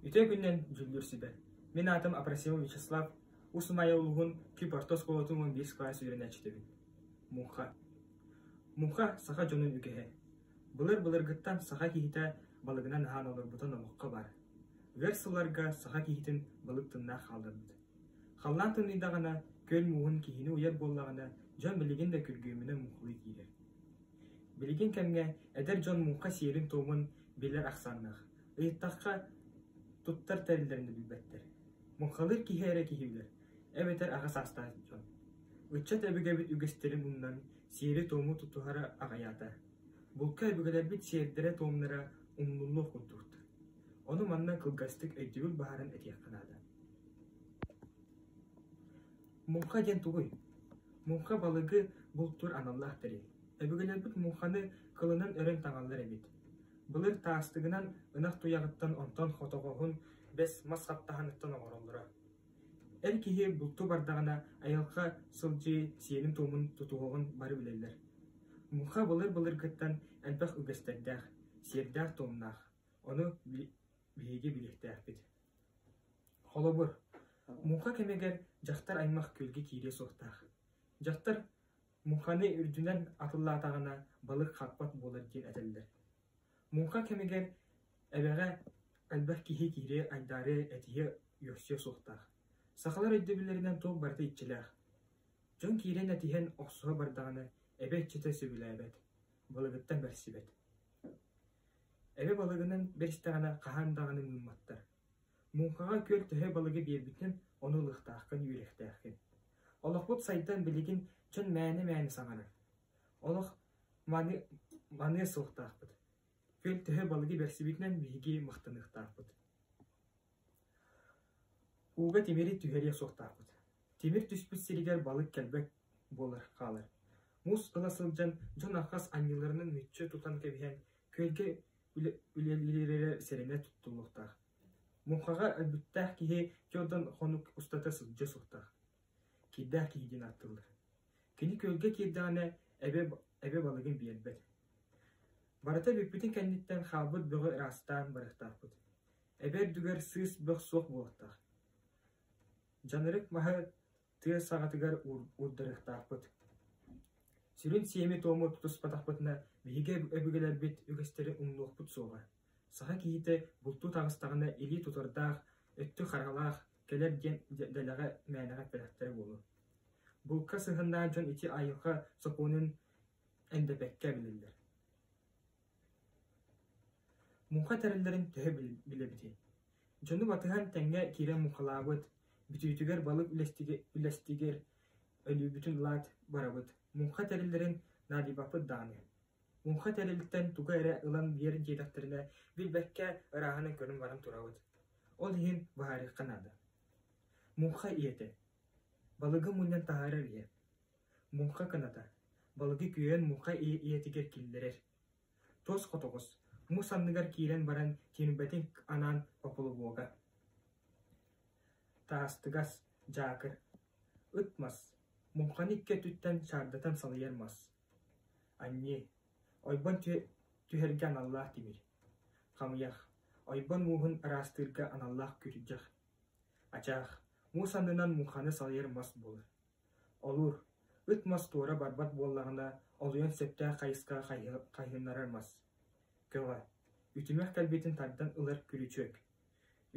Үтүө күнүнэн дьүүллүүр сүбэ! Мин аатым Апросимов Вячеслав, Уус Умайа улууһун Күп орто оскуолатын уон биэс кылаас үөрэнээччитэбин. Муҥха Муҥха саха дьонун үгэһэ. Былыр-былыргыттан саха киһитэ балыгынан аһаан олорбута номоххо баар. Ыар сылларга саха киһитин балык тыннаах хаалларбыт. Халлаан тыныйдаҕына, күөл мууһун киһини уйар буоллаҕына, дьон билигин да күргүөмүнэ муҥхалыы киирэр. Билигин кэмҥэ эдэр дьон муҥха сиэрин-туомун билэр ахсааннаах, ыйыттахха, туттар тэриллэрин да билбэттэр. Муҥхалыыр киһи эрэ киһилэр, эбэтэр аҕа саастаах дьон. Ыччат өбүгэбит үгэстэрин умнан, сиэри-туому тутуһара аҕыйаата. Булка өбүгэлэрбит сиэрдэрэ-туомнара умнуллуох курдуктар. Ону манна кылгастык өйдүүр баһарын этиэххэ наада. Муҥха диэн тугуй? Муҥха балыгы бултуур аналлаах тэрил. Өбүгэлэрбит муҥханы кылынан өрөн таҥаллар эбит. Былыр таастыгынан ынах туйаҕыттан онтон хотоҕоһун бэс мас хаптаһыныттан оҥороллоро. Эр киһи булту бардаҕына айылҕа сылдьыы сиэнин-туомун тутуһуоҕун бары билэллэр. Муҥха былыр-былыргыттан элбэх үгэстэрдээх, сиэрдээх-туомнаах. Ону биһиги билиэхтээхпит Холобур, муҥха кэмигэр дьахтар аймах күөлгэ киириэ суохтаах. Дьахтар муҥханы үрдүнэн атыллаатаҕына балык хаппат буолар диэн этэллэр. Муҥха кэмигэр эбэҕэ элбэх киһи киириэ, айдаары, этиһэ, үөхсүө суохтаах. Сахалар өйдөбүллэринэн туох барыта иччилээх. Дьон киирэн этиһэн охсуһа бардаҕына, эбэ иччитэ сөбүлээбэт. Балыгыттан көрсүбэт. Эбэ балыгынан бэстэҕинэ хаһан даҕаны муумматтар. Муҥхаҕа күөл төһө балыгы биэрбитин ону ылыахтааххын, үөрэхтээххин. Олохпут сайдан билигин чон мээнэ-мээнэ саҥарар. Олох маны, маныа суохтаахпыт. Күөл төһө балыгы берсибитинэн биһиги махтаныахтаахпыт Ууга тимири түһэриэ суохтаахпыт, тимир түспүт сиригэр балык кэлбэт буолар хаалар, муус ыла сылдьан дьон архас анньыыларынан мүччү тутан кэбиһэн, күөлгэ үлэлиирэ сэрэнэ туттуллуохтаах. Муҥхаҕа өлбүттээх киһи отон хонук устата сылдьыа суохтаах, киирдээх киһи диэн ааттыыллар. Кини күөлгэ киирдэҕинэ эбэ эбэ балыгын биэрбэт. Барыта бүппүтүн кэнниттэн хаалбыт бөҕү ыраастаан барыахтаахпыт. Эбэ үрдүгэр сыыс бөх суох буолуохтаах. Дьанарык маһы тыа саҕатыгар уурдарыахтаахпыт. Сүрүн сиэми-туому тутуспатахпытына, биһиги өбүгэлэрбит үгэстэри умнуохпут суоҕа. Саха киһитэ бултуу таҕыстаҕына илии тутардаах, өттү харҕалаах, кэлэр диэн дэлэҕэ мээнэҕэ эппэтэхтэрэ буолуо. Булка сыһыннаах дьон ити айылҕа сокуонун эндэпэккэ эбилэллэр Муҥха тэриллэрин төһө билэбитий? Дьону батыһан тэҥҥэ киирэн муҥхалаабыт, бүтүүтүгэр балык үлэстигэр өлүүбүтүн ылаат барабыт, муҥха тэриллэрин наадыйбаппыт даҕаны. Муҥха тэрилтэн тугу эрэ ылан биэр диэтэхтэринэ, билбэккэ ырааһынан көрөн баран турабыт. Ол иһин быһаарыахха наада. Муҥха ийэтэ: «Балыгы мунньан таһаарар ийэ Муҥха кыната, балыгы күөйэн муҥха ийэтигэр киллэрэр. Туос хотоҕос, муус анныгар киирэн баран тиэрбэтин анаан пополобога. Таастыгас, дьаакыр, ыт мас, муҥханы икки өтүттэн шаардатан салайар мас. Анньыы, ойбон түһэргэ аналлаах тимир. Хамыйах, ойбон мууһун араастыырга аналлаах күрдьэх. Ачаах, муус аннынан муҥханы салайар мас буолар. Олур, ыт мас туора барбат буоллаҕына, олуйан сөптөөх хайысха хайыһыннарар мас. Көҕө, үтүмэх кэлбитин тардан ылар күрүчүөк.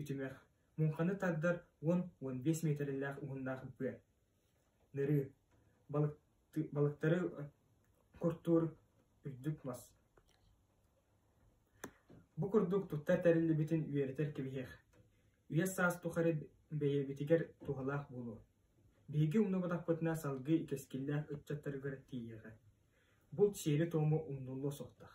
Үтүмэх, муҥханы тардар уон уон биэс миэтэрэлээх уһуннаах быа. Нырыы, балыктары куртуур үрдүк мас. Бу курдук туттар тэриллибитин үөрэтэр кэбиһиэх. Үйэ-саас тухары бэйэбитигэр туһалаах буолуо. Биһиги умнубатахпытына салгыы кэскиллээх ыччаттаргар тиийиэҕэ. Булт сиэри-туому умнуллуо суохтаах